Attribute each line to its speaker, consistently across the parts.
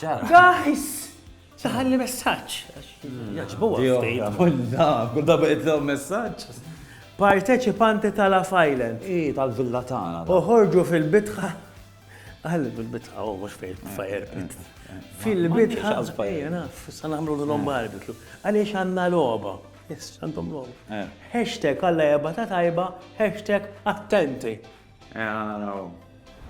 Speaker 1: Ġara. Guys! Saħalli messaġġ. Jaġbuha ftehim. Kull darba jitlhom messaġġ. Parteċipanti tal-Af Island. I tal-villa tagħna. Uħorġu fil-bitħa. Għalli fil-bitħa, u mux fejn fire pit. Fil-bitħa, ejja naf, sa nagħmlu l-lom barbitlu. Għaliex għandna logħba. Yes, għandhom logħba. Hashtag għalla jabba ta' tajba, hashtag attenti. Ejja naraw.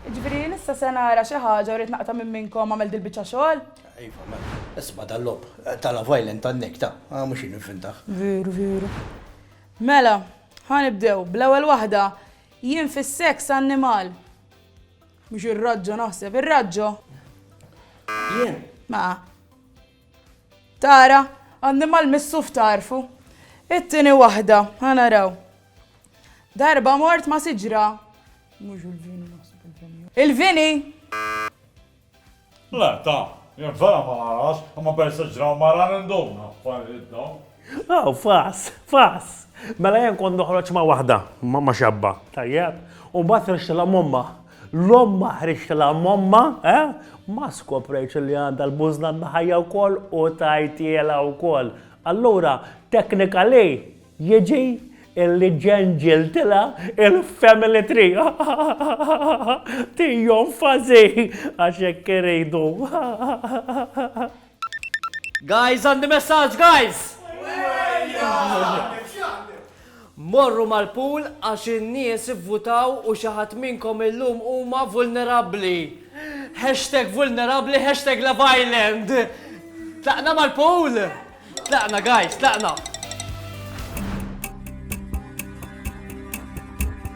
Speaker 1: Jiġifieri jien issa se nara xi ħaġa u rrid naqta' minn minnkom għamel dil-biċċa xogħol? Iva, mela. Isma' dal-logħob ta' Love Island għan-Nick, ta', a mhux jien invintah. Veru, veru. Mela, ħa nibdew, bl-ewwel waħda, jien fis-seks annimal. Mhux ir-raġġo naħseb, ir-raġġo? Jien? Ma. Tara, annimal missuf tagħrfu. It-tieni waħda, ħa naraw. Darba mort ma' siġra. Mhux il-vini naħseb il-vini. Il-vini! Le, ta, jien vera ma narax, imma peress li ġraw mara ninduna affarijiet dawn. Aw, fass, fass! Mela jien kont noħroġ ma' waħda, ma' xabba, tajjeb? U mbagħad ħriġtilha m'ommha. L-ommha ħriġtilha m'ommha, eh? Ma skoprejtx li għandha l-bużna mħajja wkoll u tajtielha wkoll. Allura, technically, jiġi illi ġenġiltilha il-family tree. Tijom fażi, għax hekk iridu. Guys għandi messaġġ guys! Morru mal-pool għax in-nies ivvutaw u xi ħadd minnkom illum huma vulnerabbli. Hashtag vulnerabbli hashtag Love Island. Tlaqna mal-pool! Tlaqna guys, tlaqna!